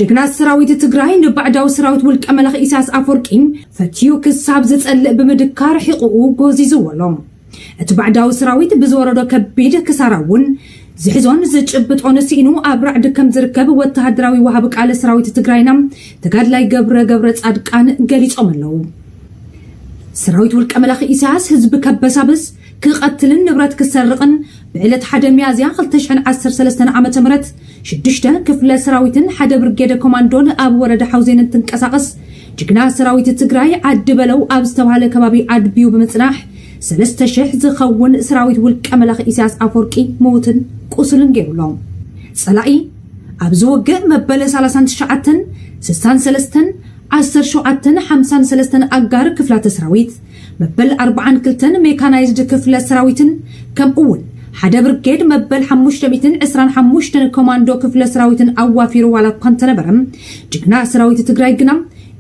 ጅግና ሰራዊት ትግራይ ንባዕዳዊ ሰራዊት ውልቀ መላኺ ኢሳያስ ኣፈወርቂ ፈትዩ ክሳብ ዝጸልእ ብምድካ ርሒቑኡ ጎዚዝዎ ኣሎ። እቲ ባዕዳዊ ሰራዊት ብዝወረዶ ከቢድ ክሳራ እውን ዝሕዞን ዝጭብጦን ስኢኑ ኣብ ራዕዲ ከም ዝርከብ ወተሃደራዊ ወሃቢ ቃለ ሰራዊት ትግራይና ተጋድላይ ገብረ ገብረ ጻድቃን ገሊጾም ኣለዉ። ሰራዊት ውልቀ መላኺ ኢሳያስ ህዝቢ ከበሳብስ ክቐትልን ንብረት ክሰርቕን ብዕለት ሓደ ሚያዝያ 2013 ዓ ም ሽዱሽተ ክፍለ ሰራዊትን ሓደ ብርጌደ ኮማንዶን ኣብ ወረዳ ሓውዜን እንትንቀሳቐስ ጅግና ሰራዊት ትግራይ ዓዲ በለው ኣብ ዝተባሃለ ከባቢ ኣድብዩ ብምፅናሕ ሰለስተ ሽሕ ዝኸውን ስራዊት ውልቀ መላኺ ኢሳያስ ኣፎርቂ ምዉትን ቁሱልን ገይሩ ኣሎ። ጸላኢ ኣብዚ ውግእ መበል ሳላሳን ትሽዓተን፣ ስሳን ሰለስተን፣ ዓሰርተ ሸውዓተን፣ ሓምሳን ሰለስተን ኣጋር ክፍላተ ስራዊት፣ መበል ኣርባዓን ክልተን ሜካናይዝድ ክፍለ ስራዊትን ከምኡ'ውን ሓደ ብርጌድ መበል ሓሙሽተ ሚእትን ዕስራን ሓሙሽተን ኮማንዶ ክፍለ ስራዊትን ኣዋፊሩ ዋላ እኳ እንተነበረ ጅግና ስራዊት ትግራይ ግና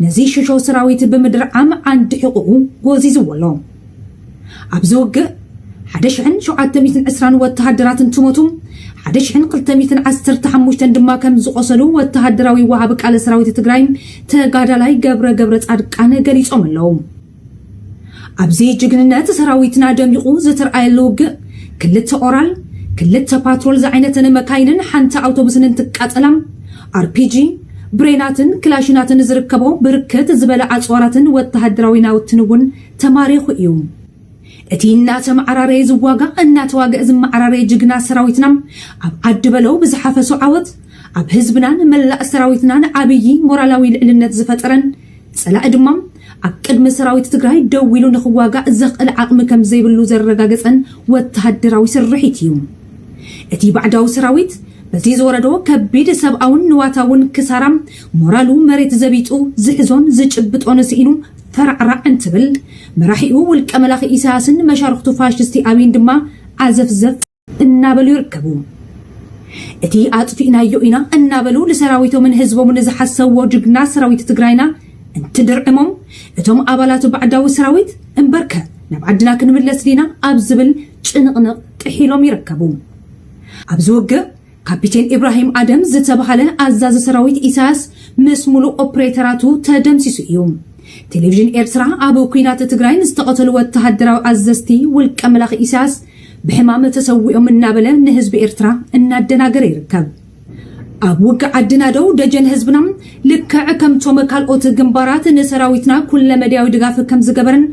ነዚ ሽሾ ስራዊት ብምድርዓም ዓንዲ ሕቁኡ ጎዚዝዎ ኣሎ። ኣብዚ ውግእ ሓደ ሽሕን ሸውዓተ ሚእትን ዕስራን ወተሃደራት እንትሞቱ ሓደ ሽሕን ክልተ ሚእትን ዓሰርተ ሓሙሽተን ድማ ከም ዝቖሰሉ ወተሃደራዊ ወሃቢ ቃለ ሰራዊት ትግራይ ተጋዳላይ ገብረ ገብረፃድቃን ገሊፆም ኣለው። ኣብዚ ጅግንነት ሰራዊትና ደሚቑ ዝተርኣየሉ ውግእ ክልተ ኦራል፣ ክልተ ፓትሮል ዝዓይነተን መካይንን ሓንቲ ኣውቶቡስን እንትቃፀላ፣ ኣርፒጂ፣ ብሬናትን ክላሽናትን ዝርከቦ ብርክት ዝበለ ኣፅዋራትን ወተሃደራዊ ናውትን እውን ተማሪኹ እዩ። እቲ እናተመዓራረየ ዝዋጋእ እናተዋገእ ዝመዓራረየ ጅግና ሰራዊትና ኣብ ዓዲ በለው ብዝሓፈሶ ዓወት ኣብ ህዝብናን መላእ ሰራዊትናን ዓብዪ ሞራላዊ ልዕልነት ዝፈጠረን ፀላኢ ድማ ኣብ ቅድሚ ሰራዊት ትግራይ ደው ኢሉ ንኽዋጋእ ዘኽእል ዓቕሚ ከም ዘይብሉ ዘረጋገፀን ወተሃደራዊ ስርሒት እዩ። እቲ ባዕዳዊ ሰራዊት በዚ ዝወረዶ ከቢድ ሰብኣውን ንዋታውን ክሳራ ሞራሉ መሬት ዘቢጡ ዝሕዞን ዝጭብጦን ስኢኑ ፈራዕራዕ እንትብል፣ መራሒኡ ውልቀ መላኺ ኢሳያስን መሻርኽቱ ፋሽስቲ ኣብይን ድማ ዓዘፍዘፍ እናበሉ ይርከቡ። እቲ ኣጥፊእናዮ ኢና እናበሉ ንሰራዊቶምን ህዝቦምን ዝሓሰዎ ጅግና ሰራዊት ትግራይና እንትድርዕሞም እቶም ኣባላት ባዕዳዊ ሰራዊት እምበርከ ናብ ዓድና ክንምለስ ዲና ኣብ ዝብል ጭንቕንቕ ጥሒሎም ይርከቡ። ኣብዚ ውግእ ካፒቴን ኢብራሂም ኣደም ዝተባህለ ኣዛዚ ሰራዊት ኢሳያስ ምስ ሙሉእ ኦፕሬተራቱ ተደምሲሱ እዩ። ቴሌቪዥን ኤርትራ ኣብ ኲናት ትግራይ ንዝተቐተሉ ወተሃደራዊ ኣዘዝቲ ውልቀ መላኺ ኢሳያስ ብሕማም ተሰዊኦም እናበለ ንህዝቢ ኤርትራ እናደናገረ ይርከብ። ኣብ ውግእ ዓዲ ናደው ደጀን ህዝብና ልክዕ ከምቶም ካልኦት ግንባራት ንሰራዊትና ኩለመድያዊ ድጋፍ ከምዝገበረን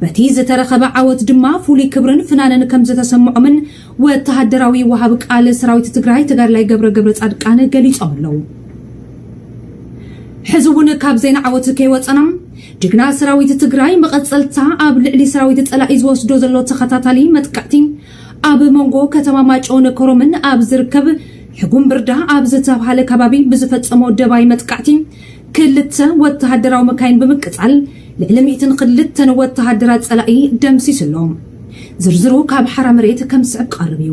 በቲ ዝተረኸበ ዓወት ድማ ፍሉይ ክብርን ፍናንን ከምዝተሰምዖምን ወተሃደራዊ ወሃቢ ቃል ሰራዊት ትግራይ ተጋድላይ ገብረ ገብረፃድቃን ገሊፆም ኣለው። ሕዚ እውን ካብ ዜና ዓወት ከይወፀና ጅግና ሰራዊት ትግራይ መቐፀልታ ኣብ ልዕሊ ሰራዊት ፀላኢ ዝወስዶ ዘሎ ተኸታታሊ መጥቃዕቲ ኣብ መንጎ ከተማ ማጮን ኮሮምን ኣብ ዝርከብ ሕጉም ብርዳ ኣብ ዝተብሃለ ከባቢ ብዝፈፀሞ ደባይ መጥቃዕቲ ክልተ ወተሃደራዊ መካይን ብምቅጻል ልዕሊ ሚእትን ክልተን ወተሃደራት ጸላኢ ደምሲሱ ኣሎ። ዝርዝሩ ካብ ሓራ መሬት ከም ዝስዕብ ክቐርብ እዩ።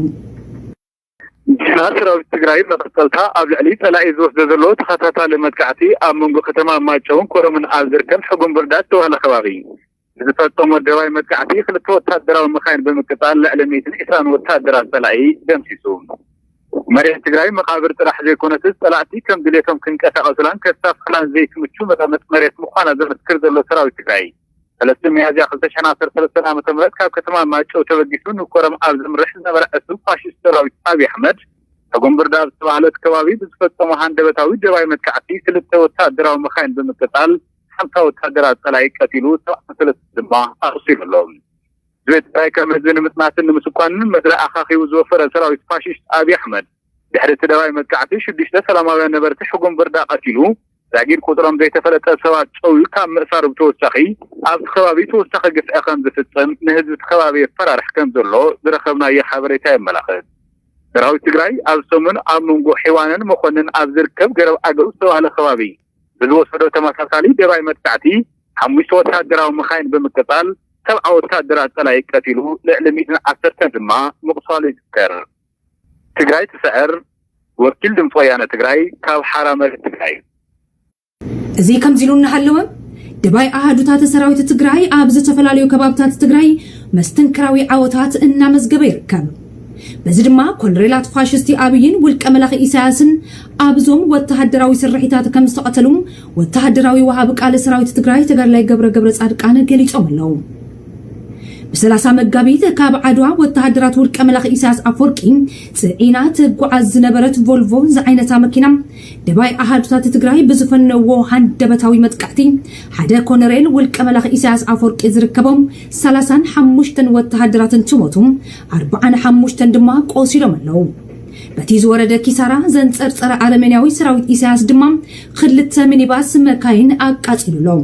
ዜና ሰራዊት ትግራይ መቐጸልታ ኣብ ልዕሊ ጸላኢ ዝወስዶ ዘሎ ተኸታታሊ መጥቃዕቲ ኣብ መንጎ ከተማ ማይጨውን ኮረምን ኣብ ዝርከብ ሕጉምብርዳድ ዝተባህለ ከባቢ ብዝፈፀሞ ደባይ መጥቃዕቲ ክልተ ወታደራዊ መኻይን ብምቅፃል ልዕሊ ሚእትን ዕስራን ወታደራት ፀላኢ ደምሲሱ። መሬት ትግራይ መቓብር ጥራሕ ዘይኮነትስ ፀላእቲ ከም ድሌቶም ክንቀሳቐሱላን ከሳፍሑላን ዘይትምቹ መቐመጢ መሬት ምዃና ዘመስክር ዘሎ ሰራዊት ትግራይ ሰለስተ ሚያዝያ ክልተ ሽሕን ዓሰርተ ሰለስተን ዓ ም ካብ ከተማ ማይጨው ተበጊሱ ንኮረም ኣብ ዘምርሕ ዝነበረ ዕሱብ ፋሽስት ሰራዊት ኣብይ ኣሕመድ ተጎምብርዳ ኣብ ዝተባህለት ከባቢ ብዝፈፀሞ ሃንደበታዊ ደባይ መጥቃዕቲ ክልተ ወታደራዊ መኻይን ብምቅፃል ሓምሳ ወተሃደራት ጸላኢ ቀቲሉ ሰብዓን ሰለስተን ድማ ኣቑሲሉ ኣሎ። ህዝቢ ትግራይ ከም ህዝቢ ንምጽናትን ንምስኳንን ምድሪ ኣኻኺቡ ዝወፈረ ሰራዊት ፋሽስት ኣብይ ኣሕመድ ድሕሪ እቲ ደባይ መጥቃዕቲ ሽዱሽተ ሰላማውያን ነበርቲ ሕጉም ብርዳ ቀቲሉ ዛጊድ ቁጽሮም ዘይተፈለጠ ሰባት ጨውዩ ካብ ምእሳሩ ብተወሳኺ ኣብቲ ከባቢ ተወሳኺ ግፍዒ ከም ዝፍጽም ንህዝቢ እቲ ከባቢ የፈራርሕ ከም ዘሎ ዝረኸብናዮ ሓበሬታ የመላኽት። ሰራዊት ትግራይ ኣብዚ ሰሙን ኣብ መንጎ ሒዋንን መኾንን ኣብ ዝርከብ ገረብ ኣገው ዝተባህለ ከባቢ ብዝወሰዶ ተመሳሳሊ ደባይ መጥቃዕቲ፣ ሓሙሽተ ወተሃደራዊ መኻይን ብምቅጻል ሰብዓ ወተሃደራት ጸላኢ ቀቲሉ ልዕሊ ሚእትን ዓሰርተን ድማ ምቑሳሉ ይዝከር። ትግራይ ትስዕር፣ ወኪል ድምፂ ወያነ ትግራይ ካብ ሓራ መሬት ትግራይ። እዚ ከምዚሉ እናሃለወ፣ ደባይ ኣሃዱታተ ሰራዊት ትግራይ ኣብ ዝተፈላለዩ ከባብታት ትግራይ መስተንክራዊ ዓወታት እናመዝገበ ይርከብ። በዚ ድማ ኮሎኔላት ፋሽስቲ ኣብይን ውልቀ መላኺ ኢሳያስን ኣብዞም ወተሃደራዊ ስርሒታት ከም ዝተቐተሉ ወተሃደራዊ ወሃቢ ቃል ሰራዊት ትግራይ ተጋድላይ ገብረ ገብረ ጻድቃን ገሊጾም ኣለዉ። ብሰላሳ መጋቢት ካብ ዓድዋ ወተሃደራት ውልቀ መላኺ ኢሳያስ ኣፈወርቂ ጽዒና ትጓዓዝ ዝነበረት ቮልቮ ዝዓይነታ መኪና ደባይ ኣሃዱታት ትግራይ ብዝፈነዎ ሃንደበታዊ መጥቃዕቲ ሓደ ኮነሬል ውልቀ መላኺ ኢሳያስ ኣፈወርቂ ዝርከቦም ሰላሳን ሓሙሽተን ወተሃደራት እንትሞቱ ኣርብዓን ሓሙሽተን ድማ ቆሲሎም ኣለዉ። በቲ ዝወረደ ኪሳራ ዘንጸርጸረ ኣረሜንያዊ ሰራዊት ኢሳያስ ድማ ክልተ ሚኒባስ መካይን ኣቃጺሉ ኣሎ።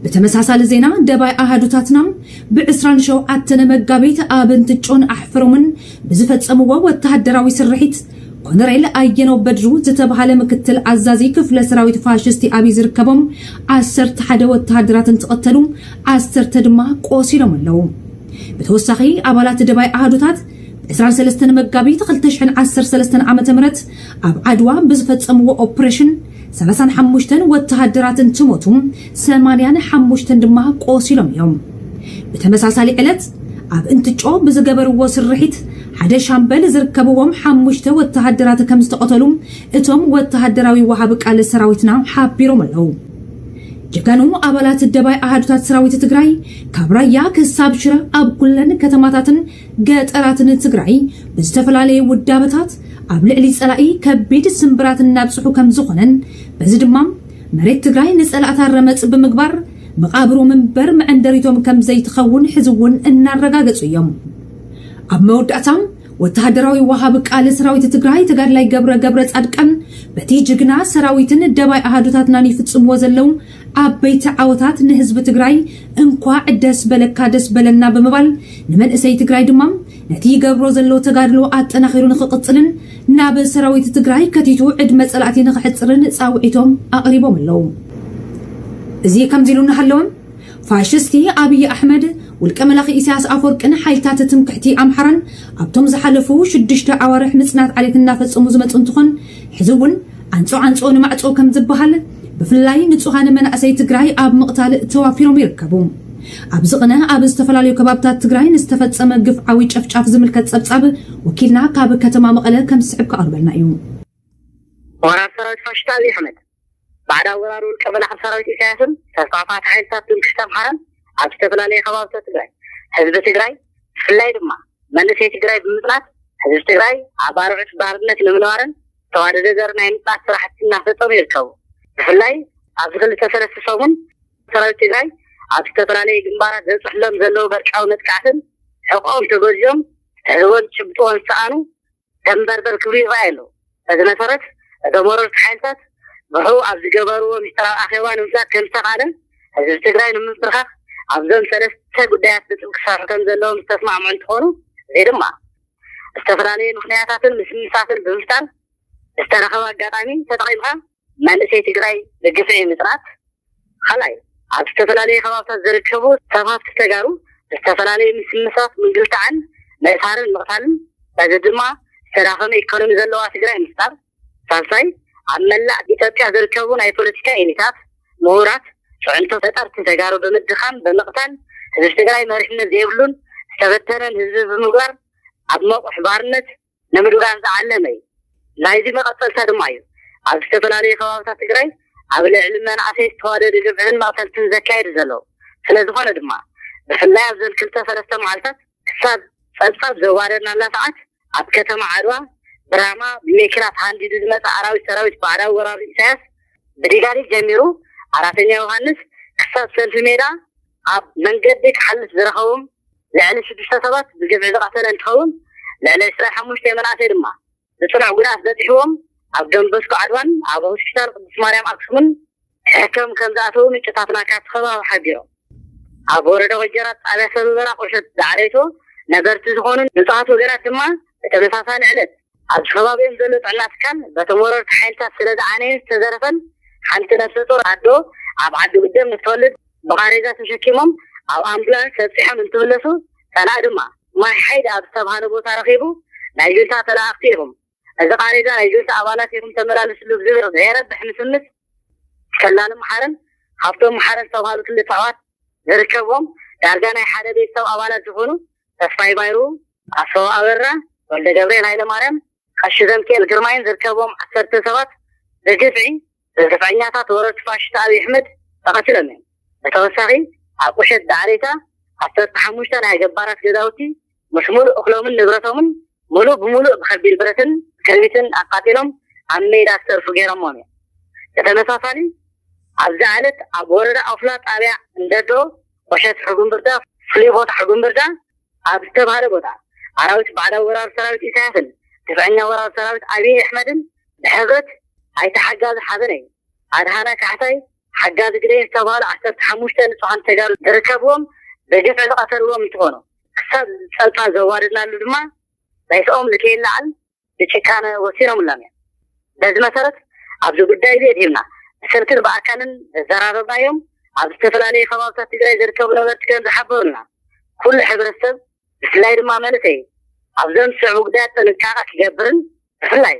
ብተመሳሳሊ ዜና ደባይ ኣሃዱታትና ብ27 መጋቢት ኣብ እንትጮን ኣሕፍሮምን ብዝፈጸምዎ ወተሃደራዊ ስርሒት ኮነሬል ኣየነው በድሩ ዝተብሃለ ምክትል ኣዛዚ ክፍለ ሰራዊት ፋሽስቲ ኣብይ ዝርከቦም ዓሰርተ ሓደ ወተሃደራት እንትቕተሉ ዓሰርተ ድማ ቆሲሎም ኣለዉ። ብተወሳኺ ኣባላት ደባይ ኣሃዱታት ብ23 መጋቢት 2013 ዓ.ም ኣብ ዓድዋ ብዝፈጸምዎ ኦፕሬሽን ሰላሳን ሓሙሽተን ወተሃደራት እንትሞቱ፣ ሰማንያን ሓሙሽተን ድማ ቆሲሎም እዮም። ብተመሳሳሊ ዕለት፣ ኣብ እንትጮ ብዝገበርዎ ስርሒት፣ ሓደ ሻምበል ዝርከብዎም ሓሙሽተ ወተሃደራት ከምዝተቐተሉ እቶም ወተሃደራዊ ወሃቢ ቃል ሰራዊትና ሓቢሮም ኣለዉ። ጀጋኑ ኣባላት ደባይ ኣሃዱታት ሰራዊት ትግራይ፣ ካብ ራያ ክሳብ ሽረ ኣብ ኩለን ከተማታትን ገጠራት ንትግራይ ብዝተፈላለየ ውዳበታት ኣብ ልዕሊ ጸላኢ ከቢድ ስምብራት እናብጽሑ ከም ዝኾነን በዚ ድማ መሬት ትግራይ ንጸላእታ ረመጽ ብምግባር መቓብሮም እምበር መዕንደሪቶም ከም ዘይትኸውን ሕዚ እውን እናረጋገጹ እዮም። ኣብ መወዳእታ ወተሃደራዊ ወሃቢ ቃል ሰራዊት ትግራይ ተጋድላይ ገብረ ገብረ ጻድቃን በቲ ጅግና ሰራዊትን ደባይ ኣሃዱታትናን ይፍጽምዎ ዘለዉ ዓበይቲ ዓወታት ንህዝቢ ትግራይ እንኳዕ ደስ በለካ ደስ በለና ብምባል ንመንእሰይ ትግራይ ድማ ነቲ ይገብሮ ዘሎ ተጋድሎ ኣጠናኺሩ ንክቕፅልን ናብ ሰራዊት ትግራይ ከቲቱ ዕድመ ፀላእቲ ንክሕፅርን ፃውዒቶም ኣቕሪቦም ኣለዉ። እዚ ከምዚ ኢሉ እናሃለወ ፋሽስቲ ኣብይ ኣሕመድ ውልቀ መላኺ ኢሳያስ ኣፈወርቅን ሓይልታት ትምክሕቲ ኣምሓራን ኣብቶም ዝሓለፉ ሽዱሽተ ኣዋርሕ ምፅናት ዓሌት እናፈፀሙ ዝመፁ እንትኾን ሕዚ እውን ዓንፆ ዓንፆ ንማዕፆ ከም ዝበሃል ብፍላይ ንፁሃን መናእሰይ ትግራይ ኣብ ምቕታል ተዋፊሮም ይርከቡ። ኣብዚ ቅነ ኣብ ዝተፈላለዩ ከባብታት ትግራይ ንዝተፈፀመ ግፍዓዊ ጨፍጫፍ ዝምልከት ፀብፃብ ወኪልና ካብ ከተማ መቐለ ከም ዝስዕብ ከቐርበልና እዩ። ወራር ሰራዊት ፋሽስት ኣብይ ኣሕመድ ባዕዳዊ ወራር ውልቀ መላኺ ሰራዊት ኢሳያስን ተስፋፋት ሓይልታት ትምክሕቲ ኣምሓራን ኣብ ዝተፈላለየ ከባብታት ትግራይ ህዝቢ ትግራይ ብፍላይ ድማ መንእሰይ ትግራይ ብምፅናት ህዝቢ ትግራይ ኣብ ኣርዑት ባርነት ንምንባርን ዝተዋደደ ዘርኢ ናይ ምፅናት ስራሕቲ እናፈፀሙ ይርከቡ። ብፍላይ ኣብዚ ክልተ ሰለስተ ሰሙን ሰራዊት ትግራይ ኣብ ዝተፈላለዩ ግንባራት ዘብፅሕሎም ዘለዉ በርቃዊ መጥቃዕትን ሕቆኦም ተጎዚኦም ትሕዝቦን ትጭብጥዎን ዝሰኣኑ ደምበርበር ክብሉ ይረኣዩ ኣለዉ። በዚ መሰረት እቶም ወረርቲ ሓይልታት ብሕቡእ ኣብ ዝገበርዎ ሚስጥራዊ ኣኼባ ንምፍላጥ ከምዝተኽኣለን ህዝቢ ትግራይ ንምምብርኻኽ ኣብዞም ሰለስተ ጉዳያት ብጥብቂ ክሰርሑ ከምዘለዎም ዝተስማዕምዑ እንትኾኑ እዚ ድማ ዝተፈላለየ ምኽንያታትን ምስምሳትን ብምፍጣር ዝተረኸበ ኣጋጣሚ ተጠቒምካ መንእሰይ ትግራይ ብግፍዒ ምፅናት፣ ኻልኣይ ኣብ ዝተፈላለየ ከባብታት ዝርከቡ ሰብ ሃፍቲ ተጋሩ ብዝተፈላለየ ምስምሳት ምንግልታዕን ምእሳርን ምቕታልን በዚ ድማ ዝተዳኸመ ኢኮኖሚ ዘለዋ ትግራይ ምፍጣር፣ ሳልሳይ፣ ኣብ መላእ ኢትዮጵያ ዝርከቡ ናይ ፖለቲካ ኤሊታት፣ ምሁራት፣ ፅዕንቶ ፈጠርቲ ተጋሩ ብምድኻም፣ ብምቕታል፣ ህዝቢ ትግራይ መሪሕነት ዘይብሉን ዝተበተነን ህዝቢ ብምግባር ኣብ መቑሕ ባርነት ንምድጓን ዝዓለመ እዩ። ናይዚ መቐፀልታ ድማ እዩ ኣብ ዝተፈላለዩ ከባብታት ትግራይ ኣብ ልዕሊ መናእሰይ ዝተዋደደ ግፍዕን መቕተልትን ዘካየዱ ዘለዉ። ስለዝኾነ ድማ ብፍላይ ኣብዘን ክልተ ሰለስተ መዓልታት ክሳብ ፀብፃብ ዘዋረድናላ ሰዓት ኣብ ከተማ ዓድዋ ብራማ ብሜኪናት ሃንዲዱ ዝመጸ ኣራዊት ሰራዊት ባዕዳዊ ወራሪ ኢሳያስ ብዲጋሊት ጀሚሩ ኣራተኛ ዮሃንስ ክሳብ ሰልፊ ሜዳ ኣብ መንገዲ ክሓልፍ ዝረኸቦም ልዕሊ ሽዱሽተ ሰባት ብግፍዒ ዝቐተለ እንትኸውን ልዕሊ ዕስራ ሓሙሽተ መናእሰይ ድማ ብጽኑዕ ጉድኣት በጺሕዎም ኣብ ዶንቦስኮ ዓድዋን ኣብ ሆስፒታል ቅድስት ማርያም ኣክሱምን እቶም ከም ዝኣተዉ ምንጭታትና ካብቲ ከባቢ ሓቢሮም። ኣብ ወረዳ ወጀራት ጣብያ ሰበበራ ቁሸት ዳዕሬቶ ነበርቲ ዝኾኑ ንፁሃት ወገናት ድማ ብተመሳሳሊ ዕለት፣ ኣብዚ ከባቢኦም ዘሎ ጥዕና ትካል በቶም ወረርቲ ሓይልታት ስለ ዝዓነየን ዝተዘረፈን ሓንቲ ነብሰ ፁር ኣዶ ኣብ ዓዲ ጉደም ምስ ትወልድ ብቓሬዛ ተሸኪሞም ኣብ ኣምቡላንስ ኣብፂሖም እንትምለሱ ፀላኢ ድማ ማይ ሓይድ ኣብ ዝተብሃለ ቦታ ረኺቡ ናይ ጁንታ ተለኣኣኽቲ ኢኹም እዚ ቃሬዛ ናይ ጁንታ ኣባላት ኢኹም ተመላለስሉ ብዝብል ዘየረብሕ ምስምስ ሰላሊ መሓርን ሃብቶም መሓርን ዝተብሃሉ ክልተ ኣሕዋት ዝርከብዎም ዳርጋ ናይ ሓደ ቤተሰብ ኣባላት ዝኾኑ ተስፋይ ባይሩ፣ ኣስፋው ኣበራ፣ ወልደገብርኤል ሃይለማርያም፣ ቀሺ ዘምኪኤል ግርማይን ዝርከብዎም ዓሰርተ ሰባት ብግፍዒ ግፍዐኛታት ወረርቲ ፋሽስት ኣብይ ኣሕመድ ተቐቲሎም እዮም። ብተወሳኺ ኣብ ቁሸት ዳዕሪታ ዓሰርተ ሓሙሽተ ናይ ገባራት ገዛውቲ ምስ ሙሉእ እኽሎምን ንብረቶምን ሙሉእ ብሙሉእ ብከቢድ ብረትን ክርቢትን ኣቃፂሎም ኣብ ሜዳ ዝተርፉ ገይሮሞም እዮም። ብተመሳሳሊ ኣብዛ ዕለት ኣብ ወረዳ ኦፍላ ጣብያ እንደዶ ቁሸት ሕጉምብርዳ ፍሉይ ቦታ ሕጉምብርዳ ኣብ ዝተብሃለ ቦታ ኣራዊት ባዕዳዊ ወራር ሰራዊት ኢሳያስን ግፍዐኛ ወራር ሰራዊት ኣብይ ኣሕመድን ብሕብረት ኣይተ ሓጋዚ ሓበነይ፣ ኣድሃና ካሕሳይ፣ ሓጋዚ ግደይ ዝተብሃሉ ዓሰርተ ሓሙሽተ ንፁሃን ተጋሩ ዝርከብዎም ብግፍዒ ዝቐተልዎም እንትኾኑ ክሳብ ፀልፋ ዘዋረድናሉ ድማ ሬስኦም ንከይለዓል ብጭካነ ወሲኖምሎም እዮም። በዚ መሰረት ኣብዚ ጉዳይ እዚ ኣድሂብና ብስልክን ብኣካልን ዘዘራረብናዮም ኣብ ዝተፈላለዩ ከባብታት ትግራይ ዝርከቡ ነበርቲ ከምዝሓበሩና ኩሉ ሕብረተሰብ ብፍላይ ድማ መንእሰይ ኣብ ዘምስዕቡ ጉዳያት ጥንቃቐ ክገብርን ብፍላይ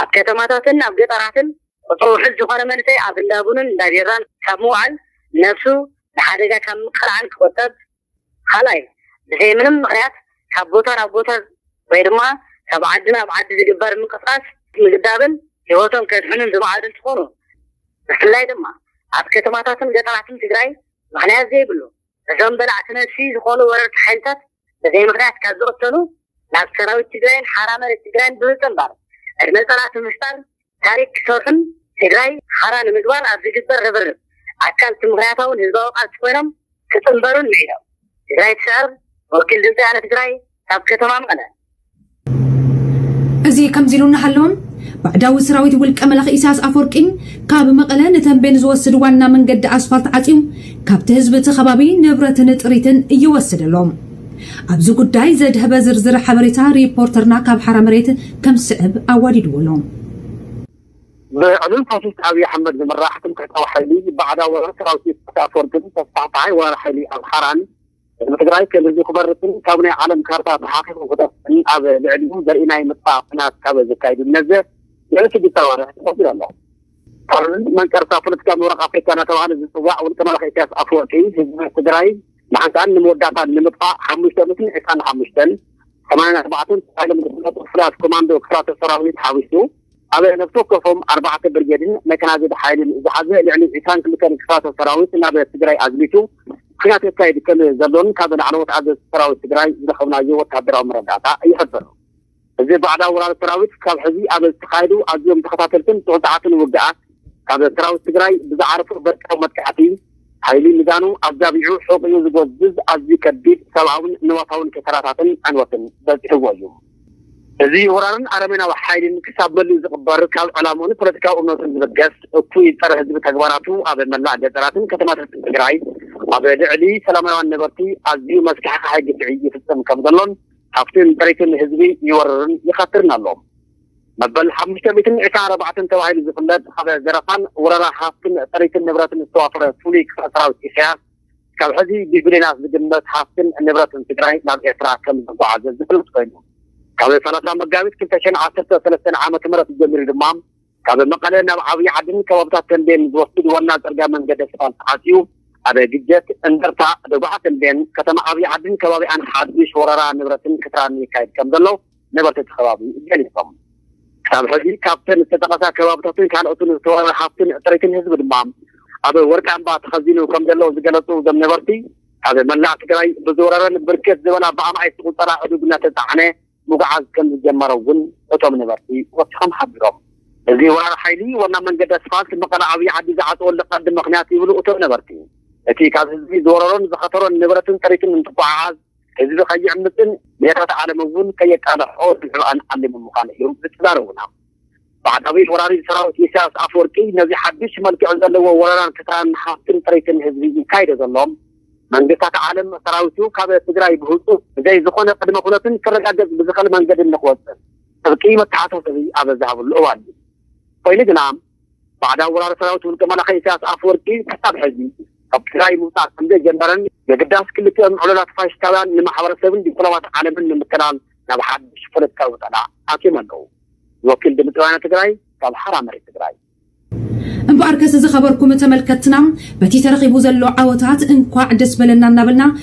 ኣብ ከተማታትን ኣብ ገጠራትን ቁፅሩ ውሑድ ዝኾነ መንእሰይ ኣብ እንዳ ቡንን እንዳ ቢራን ካብ ምውዓል ነብሱ ንሓደጋ ካብ ምቅላዕን ክቑጠብ ኻልኣይ ብዘይ ምንም ምኽንያት ካብ ቦታ ናብ ቦታ ወይ ድማ ካብ ዓዲ ናብ ዓዲ ዝግበር ምንቅስቓስ ምግዳብን ህይወቶም ከድሕኑን ዝመዓዱ እንትኾኑ ብፍላይ ድማ ኣብ ከተማታትን ገጠራትን ትግራይ ምኽንያት ዘይብሉ እዞም በላዕቲ ነብሲ ዝኾኑ ወረርቲ ሓይልታት ብዘይ ምኽንያት ካብ ዝቕተሉ ናብ ሰራዊት ትግራይን ሓራ መሬት ትግራይን ብምጽንባር ዕድመ ጸላእቲ ምፍጣር ታሪክ ክሰርሑን ትግራይ ሓራ ንምግባር ኣብ ዝግበር ርብርብ ኣካል እቲ ምኽንያታውን ህዝባዊ ቃልሲ ኮይኖም ክጽንበሩን ምዒዶም። ትግራይ ትስዕር! ወኪል ድምጺ ወያነ ትግራይ! ካብ ከተማ መቐለ። እዚ ከምዚ ኢሉ እናሃለወ ባዕዳዊ ሰራዊት ውልቀ መላኺ ኢሳያስ ኣፈወርቂ ካብ መቐለ ንተምቤን ዝወስድ ዋና መንገዲ ኣስፋልት ዓፅዩ ካብቲ ህዝቢ እቲ ከባቢ ንብረትን ጥሪትን እየወሰደ ኣሎ። ኣብዚ ጉዳይ ዘድሀበ ዝርዝር ሓበሬታ ሪፖርተርና ካብ ሓራ መሬት ከም ዝስዕብ ኣዋዲድዎ ኣሎ። ብዕሉል ፋሽስት ኣብይ ኣሕመድ ዝምራሕ ትምክሕታዊ ሓይሊ ባዕዳዊ ወራር ሰራዊት ኢሳያስ ኣፈወርቂን ተስፋሕፋሓይ ወራር ሓይሊ ኣምሓራን፣ ህዝቢ ትግራይ ከም ህዝቢ ክበርስን ካብ ናይ ዓለም ካርታ ተሓኺኹ ክጠፍእን ኣብ ልዕሊኡ ዘርኢ ናይ ምጥፋእ ኲናት ካብ ዘካይዱ ነዘ ልዕሊ ሽዱሽተ ኣዋርሕ ተቖጺሩ ኣሎ። ካልእ መንቀርታ ፖለቲካ ምብራቕ ኣፍሪካ እናተባህለ ዝፅዋዕ ውልቀ መላኺ ኢሳያስ ኣፈወርቂ ህዝቢ ትግራይ ንሓንሳእን ንመወዳእታን ንምጥፋእ ሓሙሽተ ሚእትን ዕስራን ሓሙሽተን ሰማንያን ኣርባዕተን ተባሂሎም ዝፍለጡ ፍሉያት ኮማንዶ ክፍላተ ሰራዊት ሓዊሱ ኣብ ነፍሲ ወከፎም ኣርባዕተ ብርጌድን መካናይዝድ ሓይልን ዝሓዘ ልዕሊ ዕስራን ክልተን ክፍላተ ሰራዊት ናብ ትግራይ ኣዝሚቱ ኲናት የካይድ ከም ዘሎን ካብ ላዕለዎት ኣዘዝቲ ሰራዊት ትግራይ ዝረኸብናዮ ወተሃደራዊ መረዳእታ ይሕብር። እዚ ባዕዳዊ ወራሪ ሰራዊት ካብ ሕዚ ኣብ ዝተኻየዱ ኣዝዮም ተኸታተልትን ጽዑጻዓትን ውግኣት ካብ ሰራዊት ትግራይ ብዝዓረፎ በርቃዊ መጥቃዕቲ ሓይሊ ሚዛኑ ኣዛቢዑ ሑቝኡ ዝጎዝዝ ኣዝዩ ከቢድ ሰብኣውን ንዋታውን ኪሳራታትን ዕንወትን በጺሕዎ እዩ። እዚ ወራርን ኣረሜናዊ ሓይሊን ክሳብ መሊኡ ዝቕበር ካብ ዕላምኡን ፖለቲካዊ እምነቱን ዝብገስ እኩይ ፀረ ህዝቢ ተግባራቱ ኣብ መላእ ገጠራትን ከተማታትን ትግራይ ኣብ ልዕሊ ሰላማውያን ነበርቲ ኣዝዩ መስካሕኻሒ ግፍዒ ይፍፅም ከም ዘሎን ሃፍትን ጥሪትን ህዝቢ ይወርርን ይኸትርን ኣሎ። መበል ሓሙሽተ ሚእትን ዒስራን ኣርባዕተን ተባሂሉ ዝፍለጥ ኣብ ዘረፋን ወረራ ሃፍትን ጥሪትን ንብረትን ዝተዋፈረ ፍሉይ ክፍለ ሰራዊት ኢሳያስ ካብ ሕዚ ብቢልዮናት ዝግመት ሃፍትን ንብረትን ትግራይ ናብ ኤርትራ ከም ዝተጓዓዘ ዝፍለጥ ኮይኑ፣ ካብ ሰላሳ መጋቢት ክልተ ሽሕን ዓሰርተ ሰለስተን ዓመተ ምህረት ጀሚሩ ድማ ካብ መቐለ ናብ ዓብይ ዓድን ከባብታት ተምቤን ዝወስድ ዋና ፅርግያ መንገዲ ኣስፋልት ዓፅዩ ኣብ ግጀት፣ እንደርታ፣ ደጉዓ ተምቤን፣ ከተማ ዓብይ ዓድን ከባቢኣን ሓዱሽ ወረራ ንብረትን ክትራን የካይድ ከም ዘሎ ነበርቲ እቲ ከባቢ ገሊፆም። ክሳብ ሕዚ ካብተን ዝተጠቐሳ ከባብታትን ካልኦትን ዝተወረረ ሃፍትን ጥሪትን ህዝቢ ድማ ኣብ ወርቂ ኣምባ ተኸዚኑ ከምዘሎ ዝገለፁ እዞም ነበርቲ፣ ካብ መላእ ትግራይ ብዝወረረን ብርክት ዝበላ ብኣማኢት ዝቑፀራ ኣእዱግ እናተፃዕነ ምጉዓዝ ከምዝጀመረ እውን እቶም ነበርቲ ወሲኾም ሓቢሮም። እዚ ወራሪ ሓይሊ ዋና መንገዲ ኣስፋልት መቐለ ዓብዪ ዓዲ ዝዓፀወሉ ቀንዲ ምኽንያት ይብሉ እቶም ነበርቲ፣ እቲ ካብ ህዝቢ ዝወረሮን ዝኸተሮን ንብረትን ጥሪትን እንትጓዓዓዝ፣ ህዝቢ ከይዕምጽን ሜሬት ዓለም እውን ከየቃልሖ ዝንዕብኣን ዓሊሞም ምዃን እዮም ዝዛረቡና። ባዕዳዊ ወራሪ ሰራዊት ኢሳያስ ኣፍወርቂ ነዚ ሓድሽ መልክዕ ዘለዎ ወረራን ክሳራን ሃብትን ጥሪትን ህዝቢ ይካይዶ ዘሎ፣ መንግስታት ዓለም ሰራዊቱ ካብ ትግራይ ብህጹጽ ብዘይ ዝኾነ ቅድመ ኩነትን ክረጋገጽ ብዝኽእል መንገዲ ንክወጽእ ጥብቂ መተሓሳሰቢ ኣብ ዝሃብሉ እዋን እዩ። ኮይኑ ግና ባዕዳዊ ወራሪ ሰራዊት ውልቀ መላኺ ኢሳያስ ኣፈወርቂ ክሳብ ሕዚ ካብ ትግራይ ምውጻእ ከምዘይጀመረን የግዳስ ክልቲኦም ዕሉላት ፋሽስታውያን ንማሕበረሰብን ዲፕሎማት ዓለምን ንምትላል ናብ ሓድሽ ፖለቲካዊ ውጠላ ኣትዮም ኣለዉ። ወኪል ድምጺ ወያነ ትግራይ ካብ ሓራ መሬት ትግራይ። እምበኣርከስ ዝኸበርኩም ተመልከትትና በቲ ተረኺቡ ዘሎ ዓወታት እንኳዕ ደስ በለና እናበልና